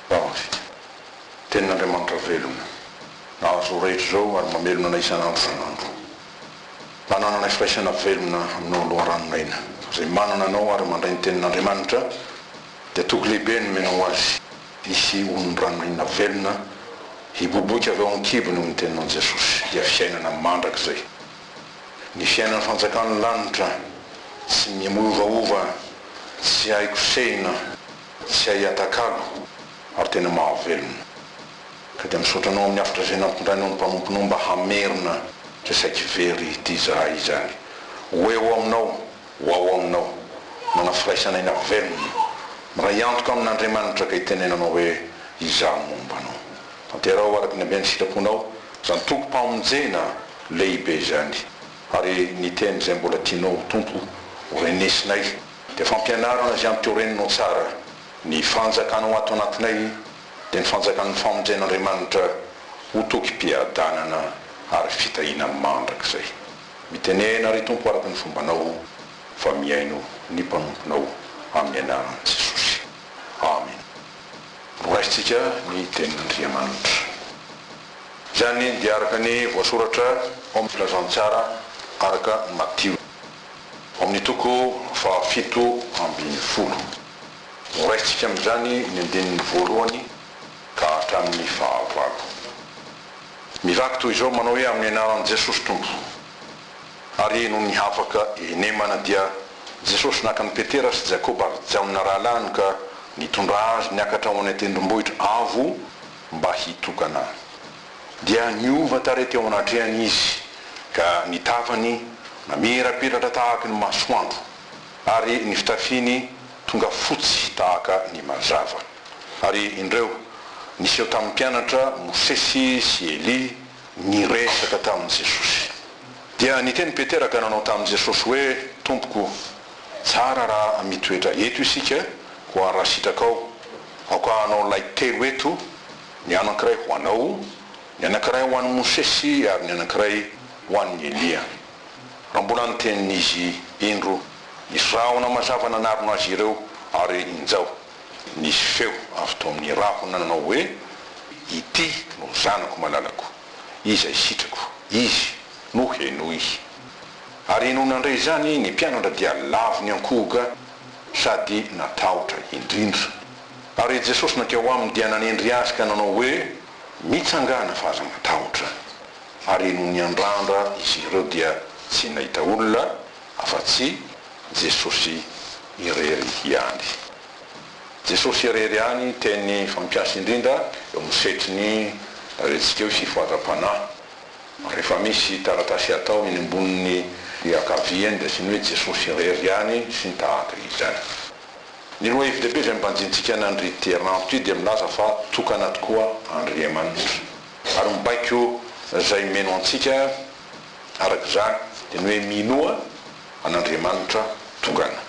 Baomafika. Tenin'Andriamanitra velona, nahazo izao rehetra izao ary mamelona anay isan'andro isan'andro. Manananay firaisana velona Aminao ny loharanon'aina. Izay manana Anao ary mandray ny Tenin'Andriamanitra, dia toky lehibe nomenao ho azy. Hisy olon'ny ranonaina velona hiboboika avy ao amin'ny kibony amin'ny Teninao Jesosy, dia fiainana mandrakizay. Ny fiainan'ny fanjakan'ny lanitra, tsy miovaova, tsy hay kosehina. Tsy hay atakalo ary tena mahavelona. Ka dia misaotra anao amin'ny hafatra izay nampindrainao ny mpanomponao mba hamerina izay saiky very ity zahay izany. Ho eo aminao, ho ao aminao. Manana firaisana aina velona. Miray antoka amin'Andriamanitra ka itenenanao hoe izaho momba anao. Tanteraho araka ny haben'ny sitraponao izany tokom-pamonjena lehibe izany. Ary ny teny izay mbola tianao ho tompo ho renesinay. Dia fampianarana azy amiko ireny no tsara. Ny fanjakana ho ato anatinay dia ny fanjakan'ny famonjen'Andriamanitra ho tokim-piadanana ary fitahiana mandrakizay. Mitenena, ry Tompo, araka ny fombanao, fa mihaino ny mpanomponao amin'ny anaran'i Jesosy. Amena. Noraisintsika ny tenin'Andriamanitra. Izany dia araka ny voasoratra ao amin'ny Filazantsara araka an'i Matio. Ao amin'ny toko fahafito ambin'ny folo, noraisintsika amin'izany ny andininy voalohany ka hatramin'ny fahavalo. Mivaky toy izao, manao hoe, Amin'ny anaran'i Jesosy Tompo. Ary nony hafaka i Nemana dia Jesosy naka an'i Petera sy Jakoba ary Jaona rahalahiny ka nitondra azy niakatra ho any an-tendrombohitra avo mba hitokana. Dia niova tarehy teo anatrehany izy, ka ny tavany namirapiratra tahaka ny masoandro, ary ny fitafiany tonga fotsy tahaka ny mazava. Ary indreo, niseho tamin'ny mpianatra, Mosesy sy Elia, niresaka tamin'i Jesosy. Dia niteny Petera ka nanao tamin'i Jesosy hoe, Tompoko, tsara raha mitoetra eto isika, koa raha sitrakao, aoka hanao lay telo eto Ny anankiray ho anao, ny anankiray ho an'i Mosesy ary ny anankiray ho an'i Elia. Raha mbola niteny ny izy indro, nisy rahona mazava nanarona azy ireo, ary injao, nisy feo avy tao amin'ny rahona nanao hoe, Ity no Zanako malalako, izay sitrako, izy no henoy. Ary nony nandre izany, ny mpianatra dia lavon'ny ankohoka sady natahotra indrindra. Ary Jesosy nankeo aminy dia nanendry azy ka nanao hoe, Mitsangàna fa aza matahotra. Ary nony niandrandra izy ireo dia tsy nahita olona afa-tsy Jesosy irery ihany. Jesosy irery ihany teny fampiasa indrindra eo amin'ny setriny lazaintsika hoe fifohazam-panahy. Rehefa misy taratasy atao eny ambonin'ny ankavia eny dia asiany hoe Jesosy irery ihany sy ny tahaka izany. Ny lohahevi-dehibe izay mibanjintsika an' Andriaterina anto ity dia milaza fa tokana tokoa Andriamanitra ary mibaiko izay mino antsika araka izany dia ny hoe minoa an' Andriamanitra tokana.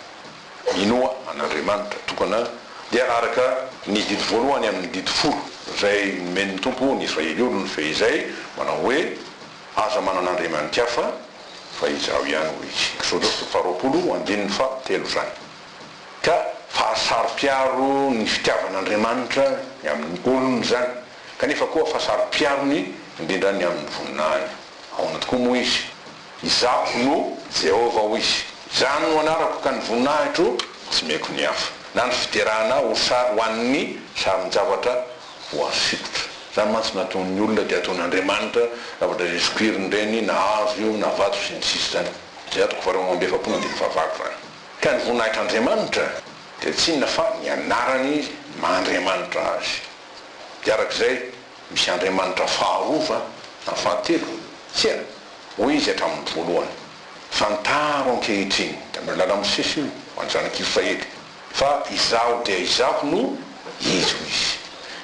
Minoa an' Andriamanitra tokana dia araka ny didy voalohany amin' ny didy folo izay nomen' ny Tompo ny Israely olony fehizay manao hoe, Aza manana andriamanitr' hafa fa Izaho ihany, hoy Izy, Eksôdôsy toko faharoapolo andininy fahatelo izany. Ka fahasaro-piaro ny fitiavan'Andriamanitra ny amin'ny olony izany, kanefa koa fahasaro-piarony indrindra ny amin'ny voninahiny. Ahoana tokoa moa izy? Izaho no Jehovah, hoy izy. Izaho no anarako, ka ny voninahitro tsy meko ny hafa, na ny fiderana ho sary ho an'ny sarin-javatra voasikotra. Izany mantsy no ataon'ny olona, dia ataon'Andriamanitra, zavatra izay sokiriny ireny, na hazo io, na vato, sy ny sisa Izany izay atoko faharoa amby efapolo andininy fahavalo izany. Ka ny voninahitr'Andriamanitra dia tsy inona fa ny anarany maha Andriamanitra azy. Dia araka izay, misy Andriamanitra faharoa na fahatelo, tsia, hoy izy hatramin'ny voalohany. Fantaro ankehitriny, tamin'io làla-mosesy io, ho an'ny Zanak'Israely, fa Izaho dia Izaho no Izy, hoy izy.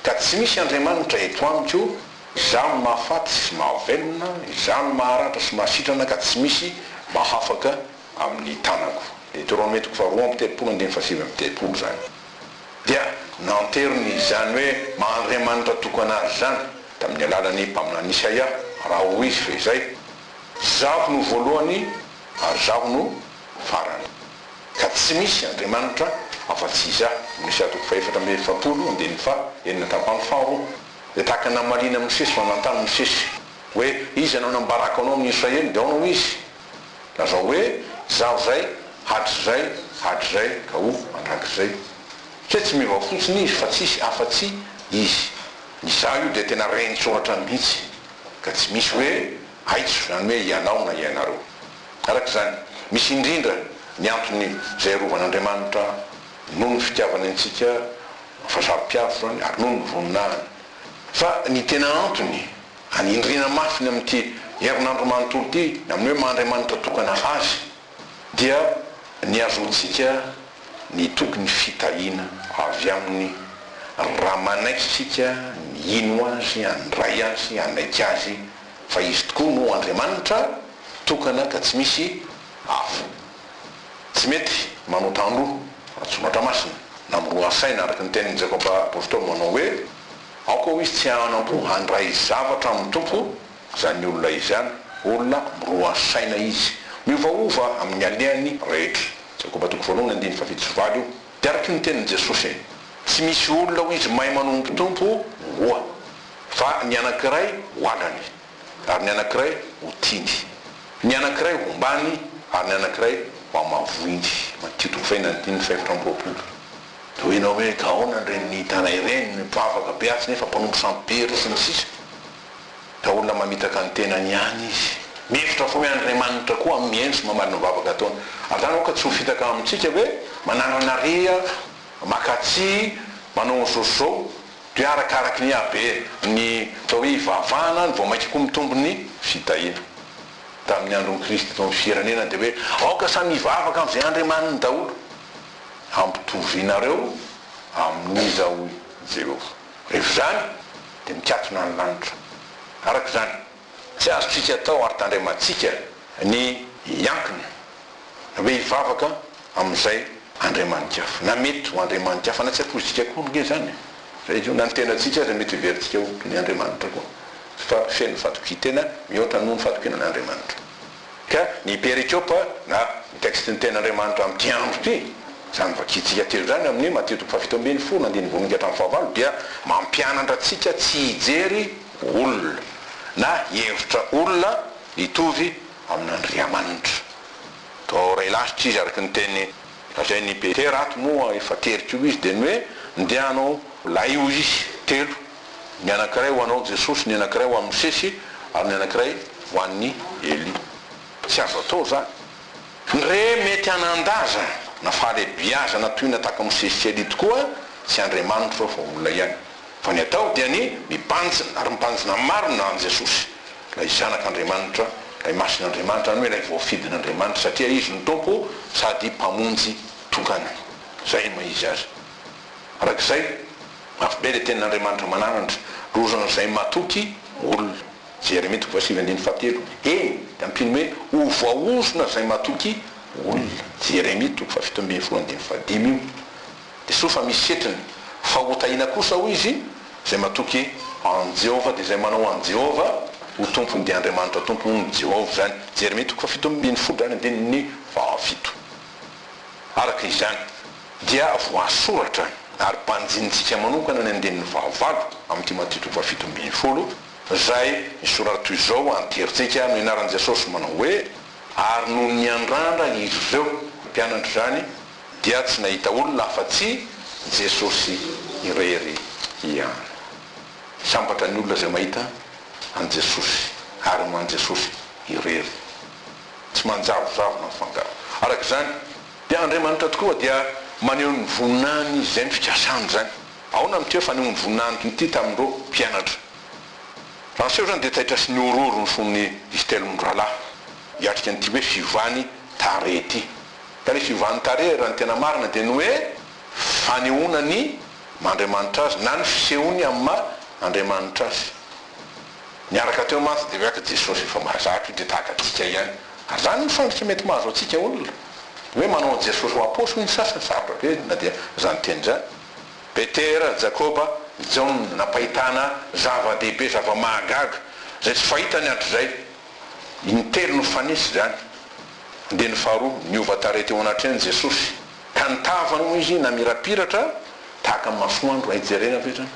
Ka tsy misy Andriamanitra eto amiko, Izaho no mahafaty sy mahavelona, Izaho no maharatra sy mahasitrana ka tsy misy mahafaka, amin'ny tanako. Ny toroamentiko faharoa amby telopolo andininy fahasivy amby telopolo izany dia nanteriny izany hoe maha-Andriamanitra tokana azy izany tamin'ny alalan'ny mpaminany Isaia, raha hoy izy fehizay, Izaho no voalohany ary Izaho no farany, ka tsy misy Andriamanitra afa-tsy Izaho. Amin'ny Isaia toko fahefatra amby efapolo, andininy faha enina tapany faharoa, dia tahaka ny namaliana Mosesy fa nanontany Mosesy hoe, Iza no nambarako anao amin'ny Israely? Dia aona hoy izy, Lazao hoe, Izaho izay, hatrizay, hatrizay ka ho mandrakizay. Kay tsy meva fotsiny izy fa tsisy afa-tsy Izy. Ny Izaho io dia tena renin-tsoratra mihitsy, ka tsy misy hoe aitso, izany hoe ianao na ianareo. Araka izany, misy indrindra ny antony izay arovan'Andriamanitra, noho ny fitiavany antsika, fa saro-piaro izany, ary noho ny voninahiny. Fa ny tena antony Hanindriana mafy ny amin'ity herinandro manontolo ity, ny amin'ny hoe maha-Andriamanitra tokana Azy, dia ny hahazoantsika nitoky ny fitahiana avy Aminy, raha manaiky isika ny hino Azy, handray Azy, hanaiky Azy fa Izy tokoa no Andriamanitra tokana ka tsy misy hafa. Tsy mety manota andro, ratsoratra masina, na miroha saina, araka ny tenin'i Jakoba Apostoly manao hoe. Aoka ho izy tsy hanam-po handray zavatra amin'ny Tompo izany olona izany, olona miroa saina izy, miovaova amin'ny alehany rehetra. Jakoba toko voalohany andininy fahafito sy valo io dia araky ny tenin'i Jesosy. Tsy misy olona ho izy mahay manompo Tompo roa, fa ny anankiray ho alany, ary ny anankiray ho tiany, ny anankiray ho ombàny, ary ny anankiray ho amavoiny. Matio toko fahina andininy fahefatra amby roapolo. Tohina hoe gaona ny renin'ny Itana ireny, ny mpivavaka be atsy nefa mpanompo sampibery sy ny sisa Ka olona mamitaka ny tenany ihany izy. Mihevitra fa hoe Andriamanitra koa amin'ny hendry mamaly ny vavaka ataony. Ary zany aoka tsy ho fitaka amintsika hoe manananariha, maka tsihy, manao ny zo sy zao, dia arakaraky ny haben'ny atao hoe ivavahana no vao mainka koa mitombo ny fitahiana. Tamin'ny andron'i Kristy teo amin'ny firenena dia hoe aoka samy hivavaka amin'izay andriamaniny daholo. hampitovianareo amin'iza hoy Jehovah. Rehefa izany, dia mikatona ny lanitra. Araka izany, tsy azontsika atao ary tandremantsika ny hiankina na hoe hivavaka amin'izay andriamani-kafa, na mety ho andriamani-kafa, na tsy ampoizika akory ange izany e! Na ny tenantsika aza mety heverintsika ho toy ny andriamanitra koa, fa feno fatokian-tena mihoatra noho ny fatokiana an'Andriamanitra. Ka ny Perikopa na ny tekstin'ny Tenin'Andriamanitra amin'ity andro ity, izany vakintsika telo izany amin'ny Matio toko fahafito ambin'ny folo andininy voalohany ka hatramin'ny fahavalo dia mampianatra antsika tsy hijery olona na hihevitra olona hitovy amin'Andriamanitra. Toa ho iray lasitra izy araka ny teny lazain'i Petera ato moa efa tery koa izy dia ny hoe, Ndeha hanao lahiozisy telo. Ny anankiray ho anao Jesosy, ny anankiray ho an'i Mosesy ary ny anankiray ho an'i Elia. Tsy azo atao izany. Ny re mety hanan-daza na fahalebiazana toy ny nataky Mosesy sy Elia tokoa tsy Andriamanitra fa olona ihany. Fa ny atao dia ny mibanjina ary mibanjina marina an'i Jesosy, ilay Zanak'Andriamanitra, ilay Masin'Andriamanitra, izany hoe ilay voafidin'Andriamanitra satria Izy no Tompo sady Mpamonjy tokana. Izay no maha izy azy. Araka izay. Mafy be le tenin'Andriamanitra mananandra rozan'izay matoky olona. Jeremia toko fahasivy andininy fahatelo. Eny, dia ampino hoe ho voahozona izay matoky olona. Jeremia toko fahafito ambin'ny folo andininy fahadimy io. Dia soa fa misy setriny. Fa hotahina kosa, hoy izy, izay matoky an'i Jehovah, dia izay manao an'i Jehovah ho tompony dia Andriamanitra Tompo, hoy ny Jehovah izany. Jeremia toko fahafito ambin'ny folo ary andininy fahafito. Araka izany. dia voasoratra ary banjinintsika manokana ny andininy fahavalo amin'ity matitiko fahafito ambin'ny folo, izay misoratra toy izao, An-terin-tsika no ianaran'i Jesosy manao hoe, Ary nony niandrandra izy ireo, mpianatra izany, dia tsy nahita olona afa-tsy Jesosy irery ihany. Sambatra ny olona izay mahita an'i Jesosy ary ho an'i Jesosy irery. Tsy manjavozavo na mifangaro araka izany. Dia Andriamanitra tokoa dia maneho ny voninahiny Izy, izay ny fikasany izany. Ahoana no teo fanehoan'ny voninahiny ity tamin'ireo mpianatra? Raha niseho izany dia taitra sy nihorohoro ny fon'ny izy telo mirahalahy, hiatrika an'ity hoe fiovan'ny tarehy ity. Ka ilay fiovan'ny tarehy raha ny tena marina dia ny hoe fanehoana ny maha Andriamanitra Azy na ny fisehony amin'ny maha Andriamanitra Azy. Niaraka teo mantsy dia hoeak'i Jesosy, Efa mahazatra io dia tahaka antsika ihany. Ary izany no fandrika mety mahazo antsika olona. Hoe manao an'i Jesosy ho aposy hoy ny sasany, sarotra be na dia izany teny izany. Petera, Jakoba, Jaona nampahitana zava-dehibe, zava-mahagaga izay tsy fahita ny hatrizay. Intelo no fanisy izany. Ndeha ny faharoa, niova tarehy teo anatrehany Jesosy, ka nitavany moa izy namirapiratra tahaka ny masoandro. Hay jerena ve izany?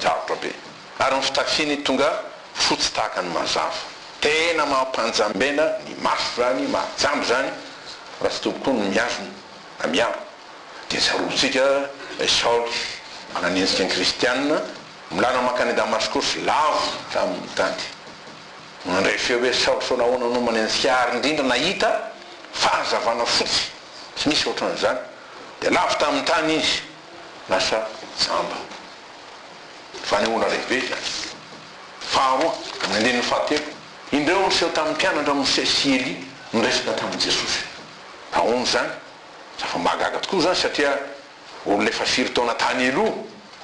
Sarotra be. ary ny fitafiny tonga fotsy tahaka ny mazava. Tena mampanjambena ny maso zany, mahajamba zany raha tsy tobokony ny mihazona na miaro. Dia tsarovitsika i Saoly manan'endrika ny kristianina milana mankany Damaskosy lavo tamin'ny tanty. Nandray feo hoe Saoly sao nahoana no manenjika ahy ary indrindra nahita fahazavana fotsy tsy misy ohatran'izany dia lavo tamin'ny tany izy lasa jamba. Fanehoana lehibe izany. Faharoa, amin'ny andininy fahatelo, indreo niseho tamin'ny mpianatra Mosesy sy Elia niresaka tamin'i Jesosy. Ahoana izany? Zava-mahagaga tokoa izany satria olona efa firy taona tany aloha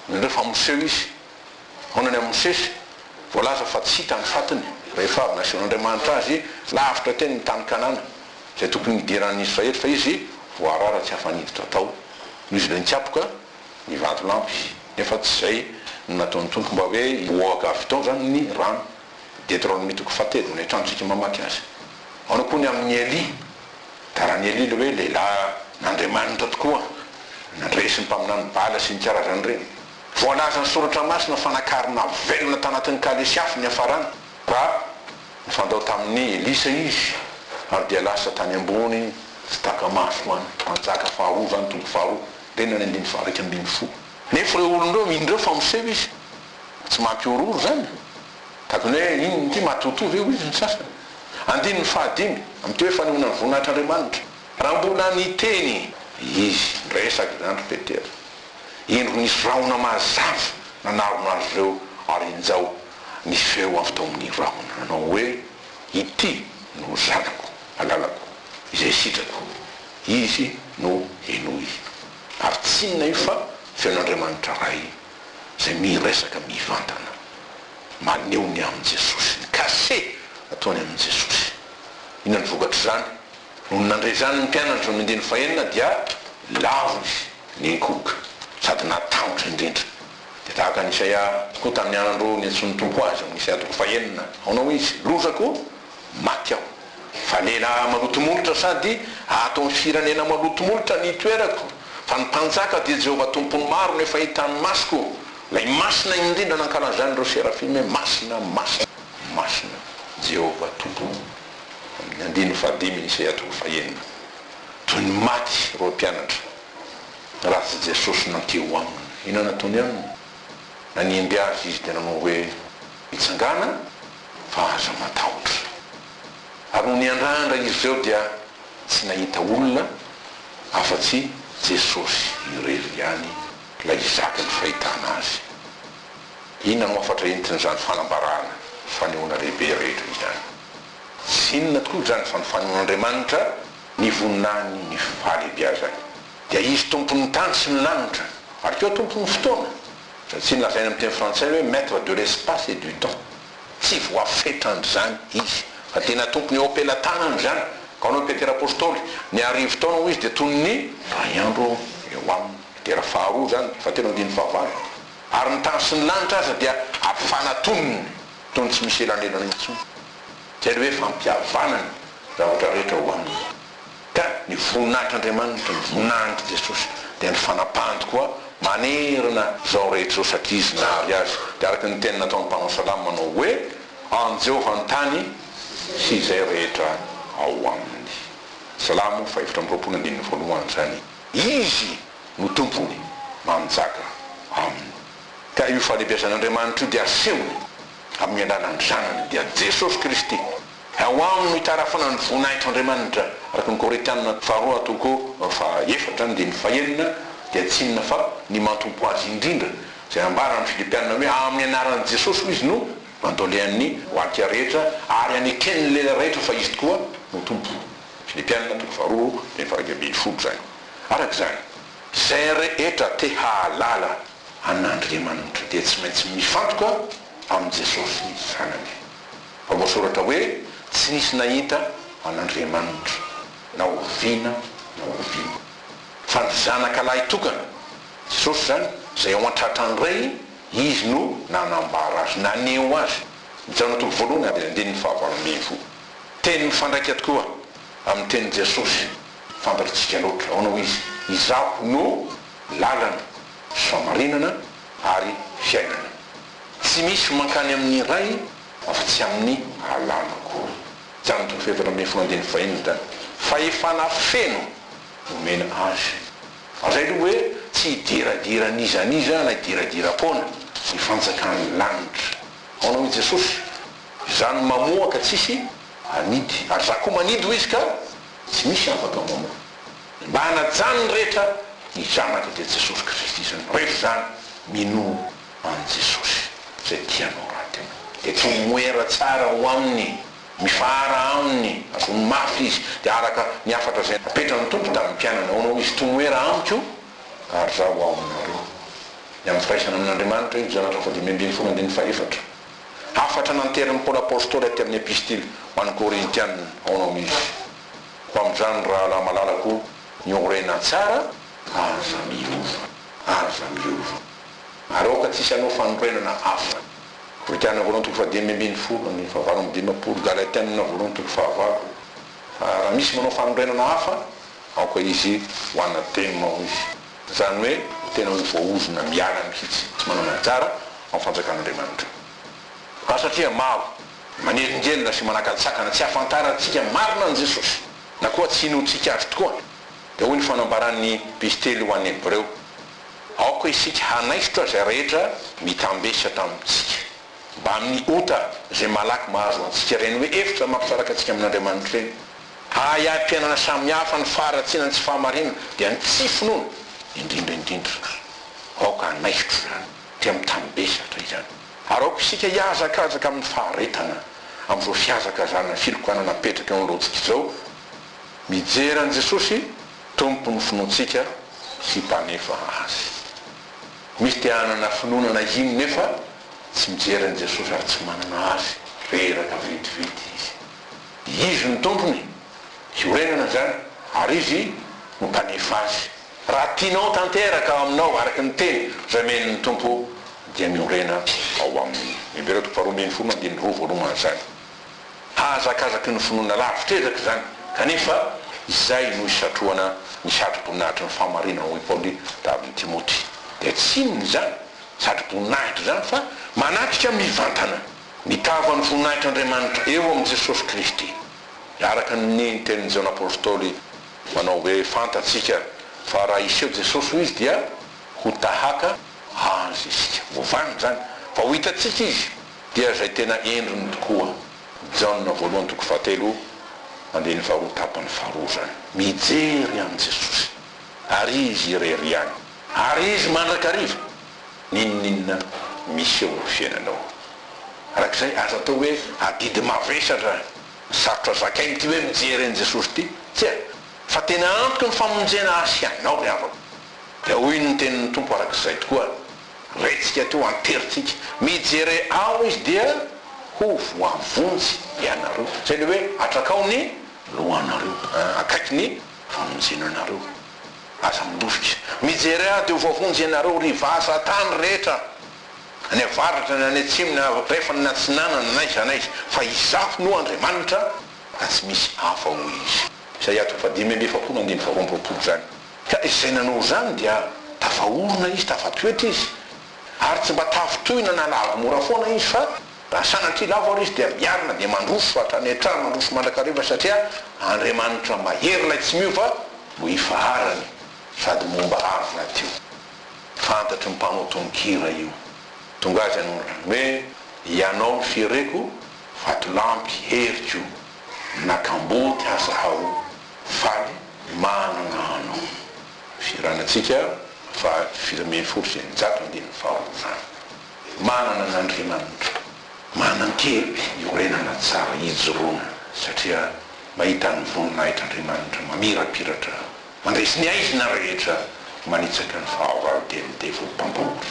no indreo fa miseho izy. Ahoana ny amin'i Mosesy? Voalaza fa tsy hita ny fatiny rehefa avy nasehon'Andriamanitra azy lavitra teny amin'ny tany Kanana izay tokony hidiran'ny Israely fa izy voarara tsy afa-niditra tao noho izy ireo nikapoka ny vatolampy nefa tsy izay no nataon'ny Tompo mba hoe hihoaka avy tao izany ny rano. Deteronomia toko fahatelo, mbola hitantsika mamaky azy. Ahoana koa ny amin'i Elia? Garan'i Elia ilay hoe lehilahy n'Andriamanitra tokoa, nandresy ny mpaminany Bala sy ny karazany ireny. Voalazan'ny Soratra Masina fa nakarina velona tanatin'ny kalesy afo niafarany raha nifandao tamin'i Elisa izy ary dia lasa tany ambony tsy taka-maso ho an'ny mpanjaka faharoa izany, toko faharoa. Teny any andininy faha-iraika ambin'ny folo. Nefa ireo olona ireo indreo fa miseho izy tsy mampihorohoro izany. Tahaka ny hoe inona ity matotoa ve hoy ny sasany. Andininy faha-dimy, amin'ity hoe fanehoana ny voninahitr'Andriamanitra. Raha mbola niteny izy niresaka izany ry Petera, indro nisy rahona mazava nanarona azy ireo ary injao nisy feo avy tao amin'ny rahona nanao hoe, Ity no Zanako malalako izay sitrako. Izy no henoy. Ary tsy inona io fa feon'Andriamanitra Ray izay miresaka mivantana. Maneho ny amin'i Jesosy, ny cachet ataony amin'i Jesosy. Inona ny vokatr'izany? Nony nandre izany ny mpianany tamin'ny andininy fahenina dia lavo izy nenkohoka sady natahotra indrindra. Dia tahaka an'i Isaia koa tamin'ny andro niantsoan'ny Tompo azy, amin'ny Isaia toko fahenina, ahoana hoy Izy? Lozako! Maty aho. Fa lehilahy maloto molotra sady ato amin'ny firenena maloto molotra ny itoerako, fa ny mpanjaka dia Jehovah Tompon'ny maro no efa hitan'ny masoko, ilay Masina indrindra nankalazan'ireo Serafim hoe Masina, Masina, Masina, Jehovah Tompo. Amin'ny andininy fahadimy ny Isaiah toko fahenina. Toy ny maty ireo mpianatra raha tsy Jesosy nankia ho aminy. Inona nataony aminy? Nanimby azy izy dia nanao hoe, Mitsangàna! fa aza matahotra. Ary nony hiandrandra izy ireo dia tsy nahita olona afa-tsy Jesosy irery ihany ilay hizaka ny fahitana Azy. Inona no hafatra entin'izany fanambarana fanehoana lehibe rehetra izany? Tsy inona tokoa izany fa ny fanehoan'Andriamanitra ny voninahiny ny fahalehibiazany. Dia Izy Tompon'ny tany sy ny lanitra ary koa Tompon'ny fotoana. Tsy nolazaina amin'ny teny frantsay hoe maître de l'espace et du temps, tsy voafetran'izany izy, fa tena tompony eo am-pelatanana izany, ka hoy Petera Apostoly, Ny arivo taona hoy izy dia toy ny iray andro eo aminy, Petera faharoa izany, fahatelo andininy fahavalo, ary ny tany sy ny lanitra aza dia ampifanatoniny toy ny tsy misy elanelana intsony, izay ilay hoe fampihavanany zavatra rehetra ho aminy. ka ny voninahitr'Andriamanitra, ny voninahitr'i Jesosy dia ny fanapahany tokoa manerana izao rehetra izao satria Izy nahary azy. Dia araka ny teny nataon'ny mpanao salamo manao hoe, An'i Jehovah ny tany sy izay rehetra ao aminy. Salamo fahefatra amby roapolo andininy voalohany izany. Izy no Tompony, manjaka aminy. Ka io fahalebiazan'Andriamanitra io dia asehony amin'ny alalan'ny Zanany, dia Jesosy Kristy. Ao aminy no itarafana ny voninahitr' Andriamanitra, araka ny Korinthiana faharoa toko faha efatra andininy faha enina, dia tsinona fa ny mantompo azy indrindra, izay ambara amin' ny Filipiana hoe amin' ny anaran' i Jesosy hoy izy no andolean' ny oakia rehetra ary aneken' ny lela rehetra fa izy tokoa no Tompo, Filipiana toko faha roa andininy faha iraika ambin'ny folo izany. Araka izany, izay rehetra te hahalala an' Andriamanitra dia tsy maintsy mifantoka amin' i Jesosy Zanany. Fa voasoratra hoe, Tsy nisy nahita an' Andriamanitra, na oviana na oviana. Fa ny Zanaka lahy tokana, Jesosy izany, izay ao an-tratra ny Ray, Izy no nanambara Azy, naneho Azy. Ny Jaona toko voalohany avy amin'ny andininy fahavalo ambin'ny folo. Teny mifandraika tokoa amin'ny tenin'i Jesosy fantatritsika loatra. Ahoana hoy Izy? Izaho no lalana, famarinana ary fiainana. Tsy misy mankany amin'ny Ray afa-tsy amin'ny Alanako. Jan toko fahefatra ambin'ny folo andininy fahiny ny tany. Fahefana feno no omena Azy. Azay aloha hoe tsy hidiradira an'iza an'iza na hidiradiram-poana ny fanjakan'ny lanitra. Ahoana hoy Jesosy? Izaho no mamoha ka tsisy hanidy, ary Izaho koa manidy hoy Izy ka tsy misy afaka mamoha. Mba hanajan'ny rehetra ny Zanaka dia Jesosy Kristy izany. Rehefa izany, minoa. an'i Jesosy izay tia anao rahateo. Dia tromoera tsara ao aminy, mifahara aminy, avono mafy izy. Dia araka ny hafatra izay napetran'ny Tompo tamin'ny mpianany, ahoana hoy izy, Tromoera amiko, ary izaho ho ao aminareo. Ny amin'ny firaisana amin'Andriamanitra, Io Janatra faha-dimy ambin'ny folo andininy faha-efatra. Hafatra nanterin'i Paoly Apostoly aty amin'ny Epistily ho an'ny Korintiana, ahoana hoy izy, Ho amin'izany, rahalahy malalako, miorena tsara, ary aza miova, aza miova. Ary aoka tsy hisy hanao fanorenana hafa. Korinthiana voalohany toko fahadimy ambin'ny folo andininy fahavalo amby dimampolo, Galatiana voalohany toko fahavalo, Fa raha misy manao fanorenana hafa, aoka izy ho anatema, hoy izy. Izany hoe ho tena ho voaozona miala mihitsy, tsy manana anjara ao fanjakan'Andriamanitra. Ka satria maro, manelingelina sy manakatsakana tsy hahafantarantsika marina an'i Jesosy, na koa tsy inoantsika Azy tokoa, dia hoy ny fanambaran'ny epistily ho an'ny Hebreo, Aoka isika hanaisotra izay rehetra mitambesatra amintsika, mbamin'ny ota izay malaky mahazo antsika ireny hoe efitra mampisaraka antsika amin'Andriamanitra ireny. Hahaiam-piainana samy hafa ny faharatsiana ny tsy fahamarinana, dia ny tsy finoana indrindra indrindra. Aoka hanaisotra izany, dia mitambesatra izany. Ary aoka isika hihazakazaka amin'ny faharetana, amin'izao fihazakazana ny filokana napetraka eo ny lojika izao, mijery an'i Jesosy Tompo ny finoantsika sy mpanefa azy. Misy te hanana finoana na hino nefa tsy mijery an'i Jesosy ary tsy manana azy, reraka vetivety izy. Izy no tompony, hiorenana izany, ary izy no mpanefa azy. Raha tianao tanteraka ao aminao araka ny teny izay omeny ny Tompo dia miorena ao aminy. Hahazakazaky ny finoana lavitra ezaka izany, kanefa izay no hisatrohana ny satroboninahitry ny fahamarinana hoy Paoly tamin'i Timoty. Dia tsy inona izany satroboninahitra izany fa manatrika mivantana ny tavan'ny voninahitr'Andriamanitra eo amin'i Jesosy Kristy. Araka ny tenin'i Jaona Apostoly manao hoe fantatsika fa raha hiseho Jesosy ho izy dia ho tahaka Azy isika. Voavanona izany fa ho hitantsika Izy. Dia izay tena endriny tokoa. Jaona voalohany toko fahatelo andininy faharoa tapany faharoa izany. Mijery an'i Jesosy ary izy irery ihany ary izy mandrakariva n'inon'inona miseho amin'ny fiainanao. Araka izay aza atao hoe adidy mavesatra sarotra zakaina ity hoe mijery an'i Jesosy ity. Tsia, fa tena antoky ny famonjena ahy sy ianao ry havako. Dia hoy ny tenin'ny Tompo araka izay tokoa. Raintsika toa an-terin-tsika. Mijere ao izy dia ho voavonjy ianareo. Izay ilay hoe atrakao ny lohanareo akaiky ny famonjenanareo. Aza mandositra. Mijere aho dia ho voavonjy ianareo, ry vaza tany rehetra, any avaratra na any atsimo na andrefana na atsinanana na aiza na aiza, fa Izaho no Andriamanitra ka tsy misy hafa, hoy Izy. Isaia toko fahadimy amby efapolo andininy faharoa amby roapolo izany. Ka izay nanao izany dia tafaorona izy, tafatoetra izy, ary tsy mba tafintohina na lavo mora foana izy, fa raha sanatria lavo ary izy dia miarina dia mandroso hatrany hatrany, mandroso mandrakariva, satria Andriamanitra mahery ilay tsy miova no ifaharany, sady momba avy rahateo. Fantatry ny mpanao tononkira io. Tonga azy hanorina ny hoe, Ianao ny fiereko, vatolampy, heriko. na kamboty aza hao faly manana anao firanantsika fa dimy ambin'ny folo sy eninjato ambin'ny valo izany manana an' Andriamanitra manan-kery iorenana tsara hijoroana satria mahita ny voninahitr'i Andriamanitra mamirapiratra mandresy ny aizina rehetra manitsaka ny fahavalo dia ny devoly mpampahory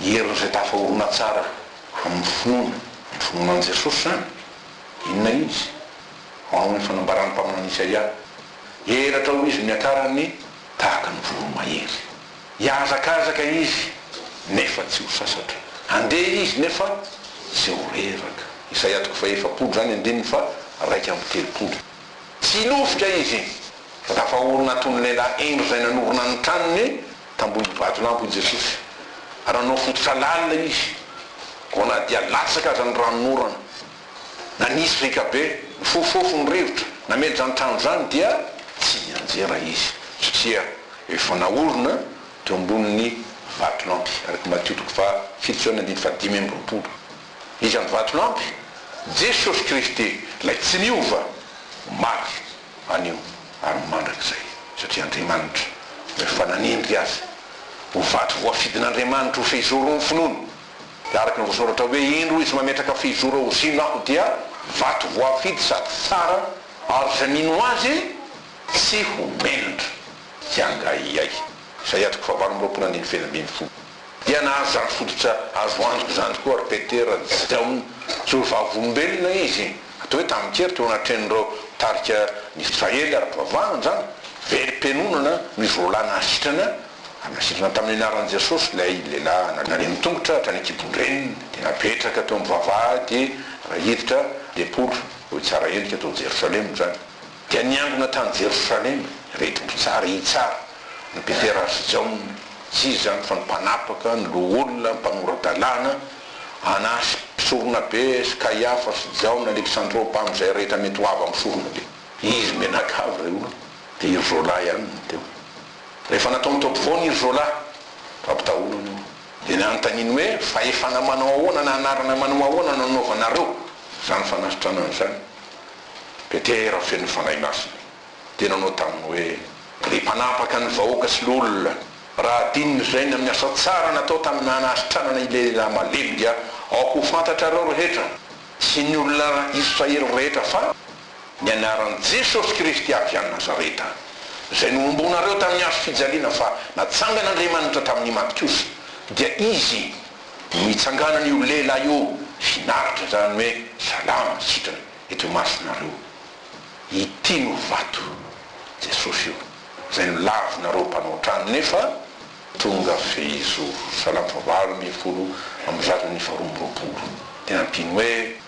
ny herin'izay tafahorona tsara amin'ny finoana ny finoana an'i Jesosy izany Inona izy? Manao ny fanambaran'ny mpaminany Isaia, Hiheratra ho izy miakarany tahaka ny voromahery. Hihazakazaka izy, nefa tsy ho sasatra. Handeha izy, nefa tsy ho reraka. Isaia toko fahefapolo izany, andininy faharaika amby telopolo. Tsy hinofika izy, fa tafahorina toy ny lehilahy hendry izay nanorina ny tranony. Tambody vatolampy hoy Jesosy, ary nanao fototra lalina Izy, vao na dia latsaka aza ny ranon'orana. Na nisy riaka be, nifofofofo ny rivotra, namely izany trano izany, dia tsy nianjera Izy, satria efa naorina teo ambonin'ny vatolampy, araka i Matio toko fahafito sy andidy fahadimy amby roapolo. Iza no vatolampy? Jesosy Kristy, Ilay tsy niova, omaly, anio ary mandrakizay, satria Andriamanitra no efa nanendry azy ho vato voafidin'Andriamanitra ho fehizoron'ny finoana, dia araka ny voasoratra hoe, Indro izy mametraka fehizoro ao Ziona, aho dia vato voafidy sady tsara, ary izay mino azy tsy ho mendri-tsy hangahiahy. Isaia toko fahavalo amby roapolo andininy feno ambin'ny folo. dia nahazary fototra azo antoka izany koa ry Petera, tsy dia ho tsy vavolombelona izy, atao hoe tamin-kery, teo anatrehan'ireo tarika ny Israely ara-pivavahana izany, velom-pianonana no izy roa lahy nahasitrana, ary nasitrana tamin'ny anaran'i Jesosy ilay lehilahy nandre ny tongotra hatrany an-kibon-dreniny, dia napetraka teo amin'ny vavahady raha hiditra ny tempoly, hoy tsara endrika tao Jerosalema izany. Dia niangona tany Jerosalema ireto mpitsara hitsara, ny Petera ary sy Jaona, tsy iza izany fa ny mpanapaka, ny loholona, ny mpanora-dalàna, Anasy mpisoronabe sy Kaiafa sy Jaona, Aleksandro mpamin'izay rehetra mety ho avy amin'ny soronabe. Izy mianakavy ireo olona, dia i Rzola ihany no teo. Rehefa natao nitaoby foana i Rzola, fampitahorana io, dia nanontaniany hoe, Fahefana manao ahoana na anarana manao ahoana no anaovanareo izany fanasitranana izany? Petera feno Fanahy Masina dia nanao taminy hoe, Ry mpanapaka ny vahoaka sy loholona, raha adinony izay ny amin'ny asa tsara natao tamin'ny hanasitranana ilay lehilahy malemy dia aoka ho fantatrareo rehetra sy ny olona Israely rehetra fa ny anaran'i Jesosy Kristy avy any Nazareta izay nohombonareo tamin'ny hazo fijaliana fa natsangan'Andriamanitra tamin'ny maty kosa dia Izy Nitsanganan' io lehilahy io finaritra izany hoe, Salama, sitrana eto imasonareo. Ity no vato, Jesosy io, izay nolavinareo mpanao trano, nefa. Tonga fehizoro, Salamo fahavalo ambin'ny folo amby zato ny faharoa amby roapolo, dia nampiany hoe,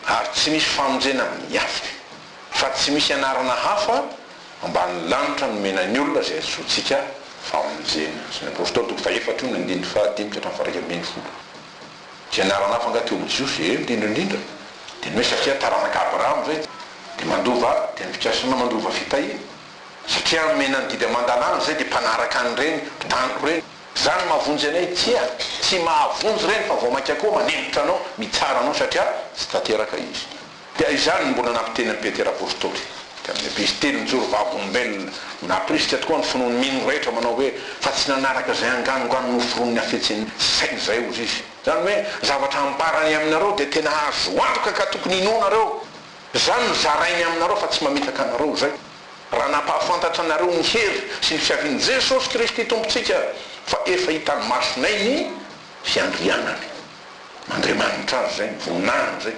Ary tsy misy famonjena amin'ny hafa, fa tsy misy anarana hafa, Ambanin'ny lanitra no omena ny olona izay antsointsika famonjena. Asan' ny Apostoly toko fahefatra io ny andininy fahadimy ka hatramin'ny faharaika ambin'ny folo. Fianarana hafa angaha teo amin'ny Jiosy? Eny, indrindra indrindra. Dia ny hoe satria taranak'i Abrahama izay dia mandova tenim-pikasana mandova fitahiana. Satria omena ny didy aman-dalàna izay dia mpanaraka an'ireny mpitaniko ireny. Izany mahavonjy anay? Tsia, tsy mahavonjy ireny fa vao mainka koa manenitra anao, mitsara anao satria tsy tanteraka izy. Dia izany no mbola nampiteny an'i Petera apostoly, dia amin'ny ankizy telo nijoro vavolombelona, no nampirisika tokoa ny finoan'ny mino rehetra manao hoe, Fa tsy nanaraka izay anganongano noforonin'ny hafetsen'ny saina izahay, hozy izy. Izany hoe, ny zavatra ambarany aminareo dia tena azo antoka ka tokony inoanareo. Izany no zarainy aminareo fa tsy mamitaka anareo izay, raha nampahafantatra anareo ny hery sy ny fiavian'i Jesosy Kristy Tompontsika, fa efa hitan'ny masonay ny fiandrianany. Andriamanitra azy izay, ny voninahiny izay.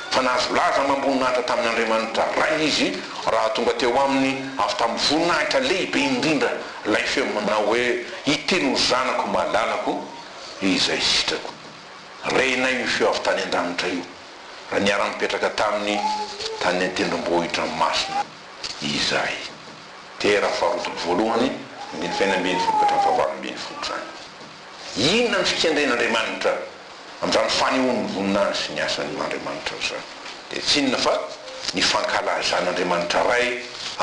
Fa nahazo laza amam-boninahitra tamin' Andriamanitra Ray izy raha tonga teo aminy avy tamin'ny voninahitra lehibe indrindra ilay feo manao hoe, Ity no Zanako malalako izay sitrako. Renay io feo avy tany an-danitra io raha niara-nipetraka taminy tany an-tendrombohitra masina izahay. Tera faharoa toko voalohany, andininy fahenina ambin'ny folo ka hatramin'ny fahavalo ambin'ny folo izany. Inona ny fikendren'Andriamanitra amin'izany fanehoan'ny voninahiny sy ny asany ho Andriamanitra izany? Dia tsy inona fa ny fankalazan'Andriamanitra Ray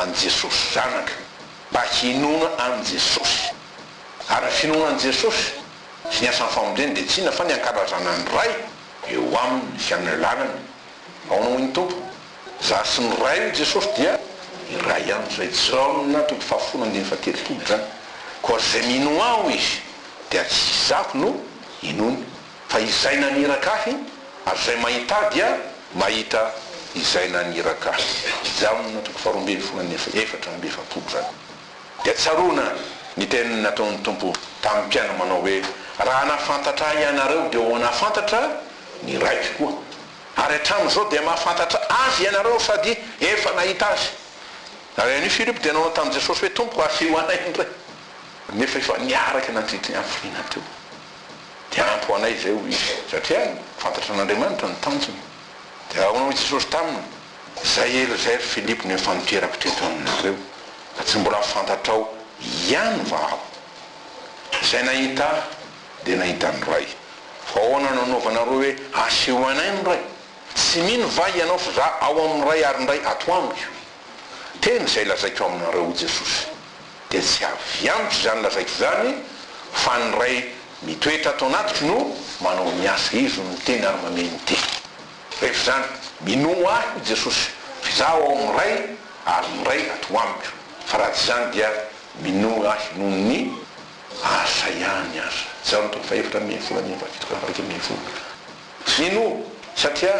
an'i Jesosy Zanaka mba hinoana an'i Jesosy. Ary ny finoana an'i Jesosy sy ny asan'ny famondreny dia tsy inona fa ny ankalazana ny Ray eo aminy sy amin'ny alalany Ahoana hoy ny Tompo? Zah sy ny Ray hoy Jesosy dia iray ihany izay, Jaona toko fahafolo andininy fahatelopolo izany, koa ary izay mino Aho izy dia tsy Izaho no inoany, fa Izay naniraka Ahy, ary izay mahita Ahy dia mahita Izay naniraka Ahy, Jaona toko faharoa ambin'ny folo andininy efatra amby efapolo izany. Dia tsaroana ny teny nataon'ny Tompo tamin'ny mpiana manao hoe, Raha nahafantatra Ahy ianareo dia ho nahafantatra ny raiko koa, ary hatramin'izao dia mahafantatra Azy ianareo sady efa nahita Azy. Ary anio Filipo dia nanao tamin'i Jesosy hoe, Tompoko, asio anay indray. Nefa efa niaraka nandritry ny hafiriana teo. Dia ampy ho anay izay, hoy izy, satria fantatra an'Andriamanitra ny tanjony. Dia ahoana hoy Jesosy taminy? Izay hery izay ry Filipo no efa niterako teto aminareo, ka tsy mbola fantatrao ihany va Aho? Izay nahita Ahy. Dia nahita ny Ray. Fa ahoana no anaovanareo hoe aseho anay ny Ray? Tsy mino va ianao fa za ao amin'ny Ray ary ny Ray ato amiko? Teny izay lazaiko aminareo, hoy Jesosy, dia tsy avy amiko izany lazaiko izany, fa ny Ray mitoetra ato anatiko no manao ny asa. Izy no miteny ary mamehy ny teny. Rehefa izany, minoa Ahy, hoy Jesosy, fa Izaho ao amin'ny Ray ary ny Ray ato amiko. Fa raha tsy izany dia minoa Ahy noho ny. Asa ihany aza. Izaho no tompo fahefatra ambin'ny folo ambin'ny fahafito ka faharoa ambin'ny folo. Mino satria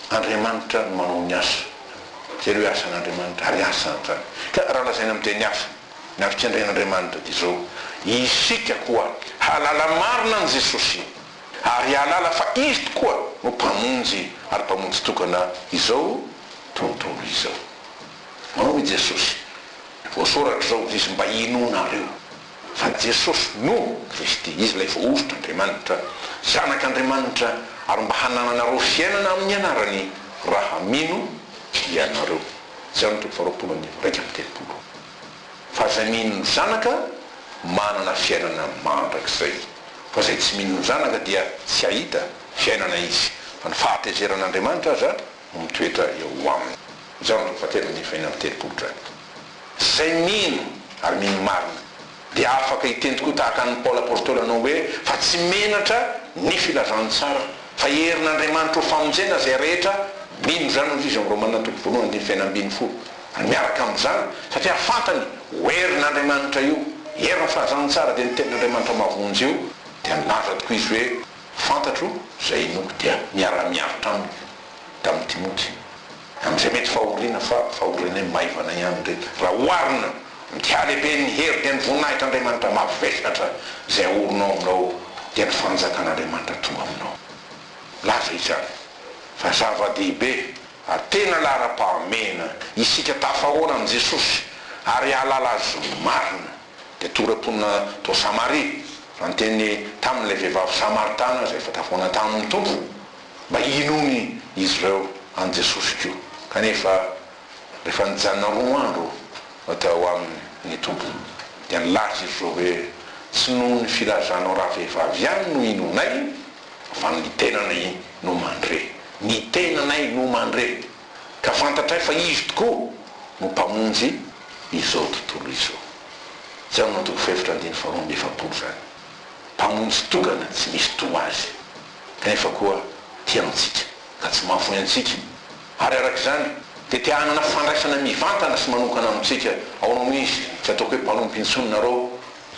Andriamanitra no manao ny asa. Jereo hoe asan'Andriamanitra ary asany izany. Ka raha lazaina amin'ny teny hafa, ny havitsendrain'Andriamanitra dia izao, isika koa hahalala marina an'i Jesosy ary hahalala fa Izy tokoa no Mpamonjy ary Mpamonjy tokana izao tontolo izao. Hoy Jesosy, Voasoratra izao, hoy Izy, mba hinoanareo fa Jesosy no Kristy, Izy ilay Voahosotr'Andriamanitra, Zanak'Andriamanitra, ary mba hanananareo fiainana amin'ny anarany raha mino ianareo. Jan. Toko faharoapolo andininy iraika amby telopolo. Fa izay mino ny Zanaka manana fiainana mandrakizay, fa izay tsy mino ny Zanaka dia tsy hahita fiainana izy, fa ny fahatezeran'Andriamanitra aza mitoetra eo aminy. Izao no fahatelo ambin'ny folo amby telopolo drap. Izay mino ary mino marina dia afaka hiteny tokoa tahaka an'i Paoly Apôstôly hanao hoe, Fa tsy menatra ny filazantsara, fa herin'Andriamanitra ho famonjena izay rehetra mino izany, hoy izy ao amin'ny Romana toko voalohany andininy fahefatra ambin'ny folo. Ary miaraka amin'izany, satria fantany ho herin'Andriamanitra io, herin'ny filazantsara dia ny tenin'Andriamanitra mahavonjy io, dia nilaza tokoa izy hoe, Fantatro izay hinoako dia miara-miaritra aminy tamin'i Timoty amin'izay mety fahoriana, fa fahorianay maivana ihany ireny raha oharina amin'ity halehiben'ny hery dia ny voninahitr'Andriamanitra mavesatra izay aorinao aminao dia ny fanjakan'Andriamanitra tonga aminao. Milaza izany fa zava-dehibe ary tena laharam-pahamehana isika tafahoana amin'i Jesosy ary hahalala Azy marina. dia tora-ponina tao Samaria, nanteny tamin'ilay vehivavy Samaritana izay efa tafona tamin'ny Tompo mba hinoany izy ireo an'i Jesosy koa. Kanefa, rehefa nijanona roa andro tao aminy ny Tompo, dia nilaza izy ireo hoe, Tsy noho ny filazanao ravehivavy ihany no inoanay, fa ny tenanay no mandre. Ny tenanay no mandre. ka fantatray fa Izy tokoa no Mpamonjy izao tontolo izao. Jaona toko fahefatra andininy faharoa amby efapolo izany. Mpamonjy tokana tsy misy toa Azy, kanefa koa tia antsika ka tsy mahafoy antsika, ary araka izany dia te hanana fandraisana mivantana sy manokana amintsika. Aono Izy, tsy ataoko hoe mpanompo intsony nareo,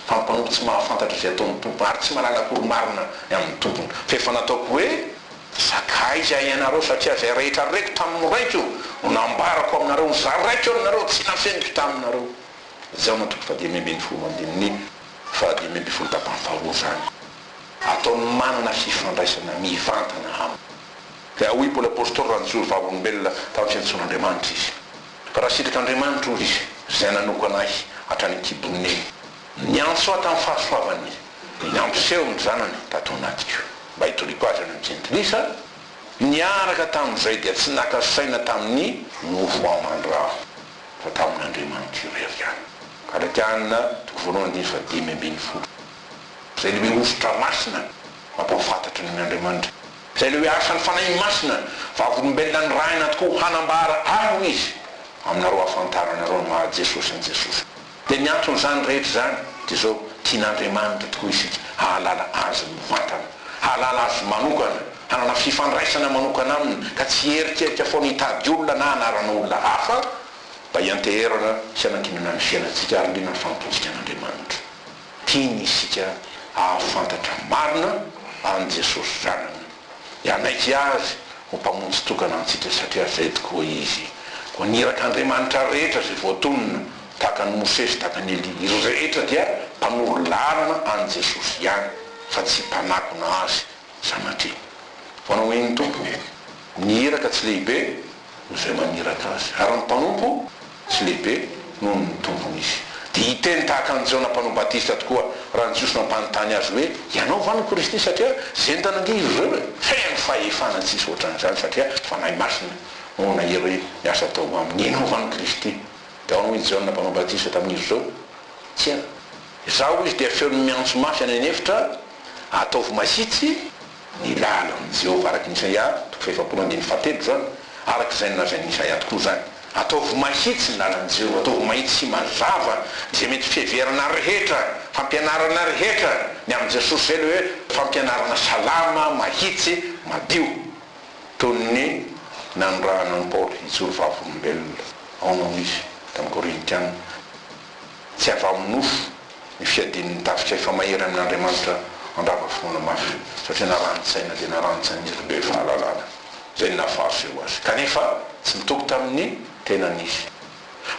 fa mpanompo tsy mahafantatra izay ataon'ny tompony ary tsy manana akory marina ny amin'ny tompony, fa efa nataoko hoe, Sakaiza ianareo, satria izay rehetra reko tamin'ny Raiko no nambarako aminareo, ny zaraiko aminareo tsy nafeniko taminareo. Jaona toko fahadimy ambin'ny folo andininy fahadimy ambin'ny folo Tapany faharoa izany ataony manana fifandraisana mivantana aminy. Dia hoy Paoly Apostoly, Raha nijoro vavolombelona tamin'ny fiantsoan'Andriamanitra izy. Raha sitrik'Andriamanitra, hoy izy, izay nanoko anay hatrany an-kibon'ny. Niantso ahy tamin'ny fahasoavany, dia nampiseho ny Zanany tato anatiko, mba hitoriako azy any amin'ny jentilisa, niaraka tamin'izay dia tsy naka saina tamin'ny mofo aman-draha, fa tamin'Andriamanitra irery ihany. Galatiana toko voalohany andininy fahadimy ambin'ny folo. Izay lehibe hosotra masina, mampahafantatry ny Andriamanitra. Izay ilay hoe asan'ny Fanahy Masina, vavolombelona nirahina tokoa hanambara ahy hoy izy, aminareo hahafantaranareo ny maha Jesosy an'i Jesosy. Dia ny anton'izany rehetra izany dia izao, tian'Andriamanitra tokoa isika hahalala Azy mivantana, hahalala Azy manokana, hanana fifandraisana manokana Aminy ka tsy hieritreritra foana hitady olona na hanarana olona hafa mba hianteherana sy hanankinana ny fiainantsika ary liana ny fanompoantsika an'Andriamanitra. Tiany isika hahafantatra marina an'i Jesosy Zanany, hanaiky Azy ho Mpamonjy tokana antsika satria zay tokoa Izy. Koa ny irak'Andriamanitra rehetra izay voatonona, tahaka an'i Mosesy, tahaka an'i Elia, izy rehetra dia mpanoro lalana an'i Jesosy ihany fa tsy mpanakona Azy sanatria. Fa nomen'ny Tompo ny iraka tsy lehibe noho izay maniraka Azy, ary ny mpanompo, tsy lehibe noho ny tompony izy. Dia hiteny tahaka an'i Jaona Mpanao Batista tokoa raha ny Jiosy mampanontany azy hoe, Ianao va no Kristy? Satria zendana ange izy ireo e! Feno fahefana tsy hisy ohatran'izany satria Fanahy Masina no nahery ny asa atao aminy. Ianao va no Kristy? Dia ahoana hoy i Jaona Mpanao Batista tamin'izy ireo? Tsia. Izaho izy dia feony miantso mafy any an'efitra, Ataovy mahitsy! Ny lalandro amin'i Jehovah araka an'i Isaia, toko fahefapolo ambin'ny fahatelopolo izany, araka izay nolazain'i Isaia tokoa izany. Ataovy mahitsy ny lalan'i Jehovah, ataovy mahitsy sy mazava izay mety fiheverana rehetra, fampianarana rehetra, ny amin'i Jesosy izay ilay hoe fampianarana salama, mahitsy, madio. Toy ny nanirahana an'i Paoly hijoro vavolombelona, aono hono izy, tamin'ny Korintiana. Tsy avy amin'ny nofo ny fiadian'ny tafika efa mahery amin'Andriamanitra handrava finoana mafy, satria narahan-tsaina dia narahan-tsain'izy ireo be fahalalana izay nahafahaseho azy, kanefa tsy nitoky tamin'ny tenany izy,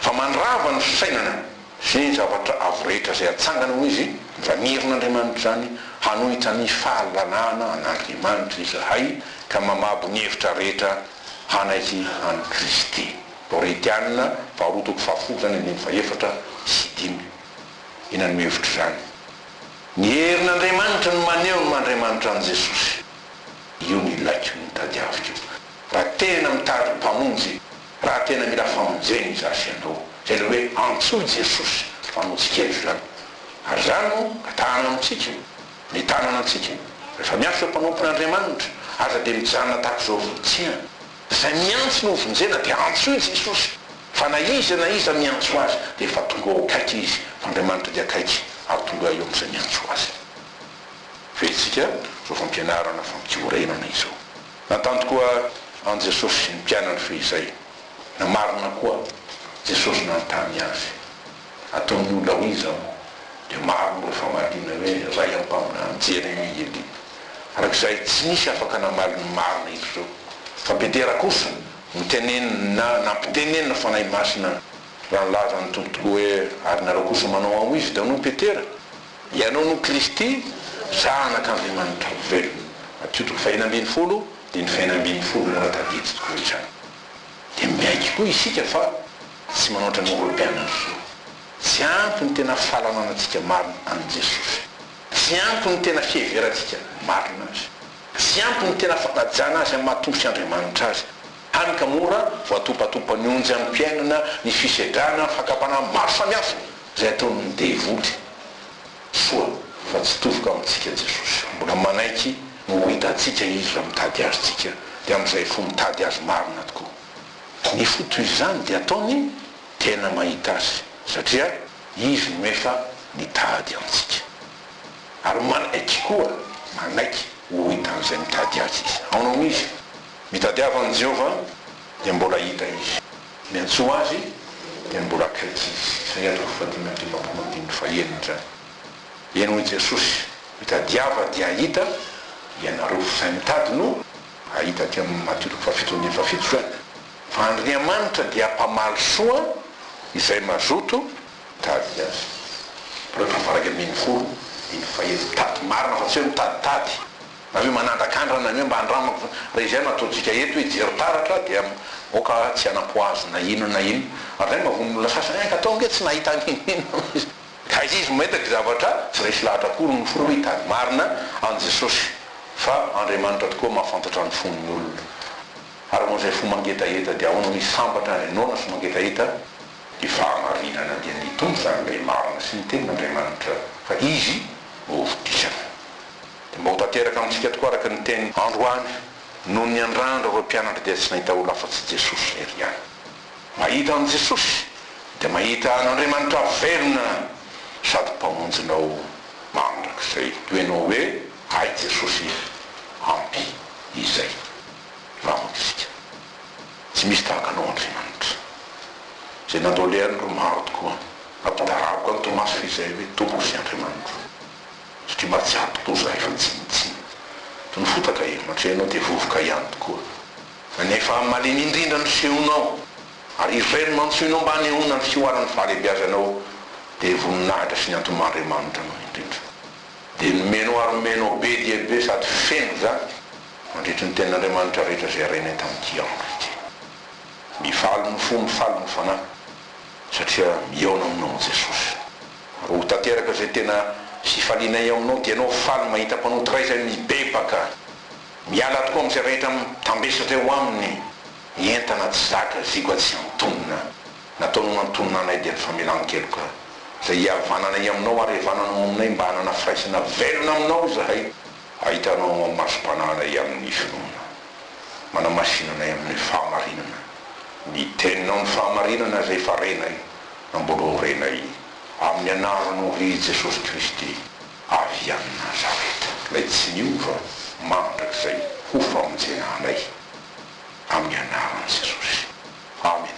fa mandrava ny fisainana sy ny zavatra avo rehetra izay hatsangana ho izy, Zanirin'Andriamanitra izany, hanohitra ny fahalalana an'Andriamanitra izahay ka mamabo ny hevitra rehetra hanaiky an'i Kristy. Laurentiana faharoa toko fahafolo izany andininy fahefatra sy dimy i nanome hevitra izany. Ny herin'Andriamanitra no maneho ny maha Andriamanitra an'i Jesosy. Io no ilaiko, io no tadiaviko. Raha tena mitady Mpamonjy, raha tena mila famonjena izaho sy ianao, izay ilay hoe antsoy Jesosy Mpamonjintsika eto izany. Ary izany no atahana amintsika, ny tanana antsika. Rehefa miasa eo am-panompon'Andriamanitra, aza dia mijanona tahaka izao volotsihana. Izay miantso ny hovonjena dia antsoy Jesosy fa na iza na iza miantso Azy dia efa tonga ao akaiky Izy fa Andriamanitra dia akaiky ary tonga eo amin'izay miantso Azy. Verentsika izao fampianarana fampiorenana izao. Nantany koa an'i Jesosy ny mpianany fehizay. Namarina koa Jesosy nanontany Azy. Ataon'ny olona hoe izao dia maro moa ireo famaliana hoe Ray ampaminany Jeremia Elia. Araka izay tsy misy afaka namaly ny marina eto izao fa Petera kosa no tenenina nampitenenina Fanahy Masina raha nilaza ny Tompo tokoa hoe ary nareo kosa manao ao izy daholo Petera ianao no Kristy zanak Andriamanitra velona Matio toko fahenina ambin'ny folo dimy fahenina ambin'ny folo raha tadidy tokoa izany dia miaiky koa isika fa Tsy manao ohatran'ny Eoropeana ny zo. Tsy ampy ny tena fahalalanatsika marina an'i Jesosy. Tsy ampy ny tena fiheverantsika marina Azy. Tsy ampy ny tena fankajana Azy amin'ny maha-Tompo sy Andriamanitra Azy. Hany ka mora voatopatopan'ny onjy amim-piainana ny fisedrana ny fakam-panahy maro samihafa izay ataon'ny devoly. Soa fa tsy tofoka amintsika Jesosy. Mbola manaiky ny ho hitantsika Izy raha mitady azontsika, dia amin'izay fo mitady Azy marina tokoa. Kanefa toy izany dia ataony tena mahita azy satria izy no efa nitady antsika. Ary manaiky koa, manaiky ho hitan'izay mitady azy izy. Aona hono izy? Mitadiava an'i Jehovah dia mbola hita izy. Miantsoa azy dia mbola akaiky izy. Isaia toko fahadimy amby dimampolo andininy fahenina izany. Eny hoy Jesosy, Mitadiava dia hahita, ianareo f'izay mitady no. Hahita aty amin'ny Matio fahafito andininy fahafito izany fa Andriamanitra dia mpamaly soa izay mazoto mitady Azy. Mbola tavaraka amin'iny hono iny fa eto mitady marina fa tsy hoe mitaditady na hoe manandrakandrana ny hoe mba andramako izany. Raha izay no ataontsika eto hoe jery taratra dia aoka tsy hanampoazy na inona na inona. Ary izay no maha vonon' olona sasany, eh, ka tao ange tsy nahita an'inona na inona. Ka izay izy mahita gzavatra tsy resy lahatra akory no folo hitany marina an'i Jesosy fa Andriamanitra tokoa mahafantatra ny fon'ny olona. Ary ho an'izay fo mangetaheta dia ahoana misy sambatra any noana sy mangetaheta? Ny fahamarinana dia ny Tompo izany ilay marina sy ny Tenin'Andriamanitra fa Izy no hovotisana. Dia mba ho tanteraka amintsika tokoa araka ny teny androany, Noho ny andraandro ireo mpianatra dia tsy nahita olona afa-tsy Jesosy lery ihany. Mahita an'i Jesosy dia mahita an'Andriamanitra velona sady Mpamonjinao mandrakizay. Toy ny hoe hay Jesosy ampy izay raha mamonjintsika. Tsy misy tahaka Anao Andriamanitra. Izay nandao lehany ry maro tokoa nampitarabaka an'i Tomasy izay hoe Tompo sy Andriamanitro. Satria mahatsiaro tokoa izahay fa tsy nitsiny. Toy ny fotaka e, mandre Ianao dia vovoka ihany tokoa. Anefa malemy indrindra ny feonao, ary irery no antsoinao mba hanehoana ny fihoaran'ny fahalehibiazanao, dia voninahitra sy ny antomahandriamanitra anao indrindra. Dia nomenao ary omenao be dia be sady feno izany, mandritry ny tenin'Andriamanitra rehetra izay renay tamin'ity andro ity. Mifaly ny fo, mifaly ny fanahy, satria mihaona aminao, Jesosy. Ary ho tanteraka izay tena fifalianay ao aminao, dia ianao faly mahita mpanota iray izay mibebaka. Miala tokoa amin'izay rehetra mitambesatra eo aminy ny entana tsy zaka zigo atsy antonona. Nataonao nantonona anay dia ny famelan-keloka izay hihavananay aminao ary hihavananao aminay mba hanana firaisana velona aminao izahay, hahitanao ao masom-panahinay amin'ny finoana. Manamasina anay amin'ny fahamarinana ny teninao, ny fahamarinana izay efa renay, namboaroanao renay amin'ny anaranao ry Jesosy Kristy. avy amin'i Nazareta, ilay tsy niova mandrakizay ho famonjena anay, amin'ny anaran'i Jesosy. Amena.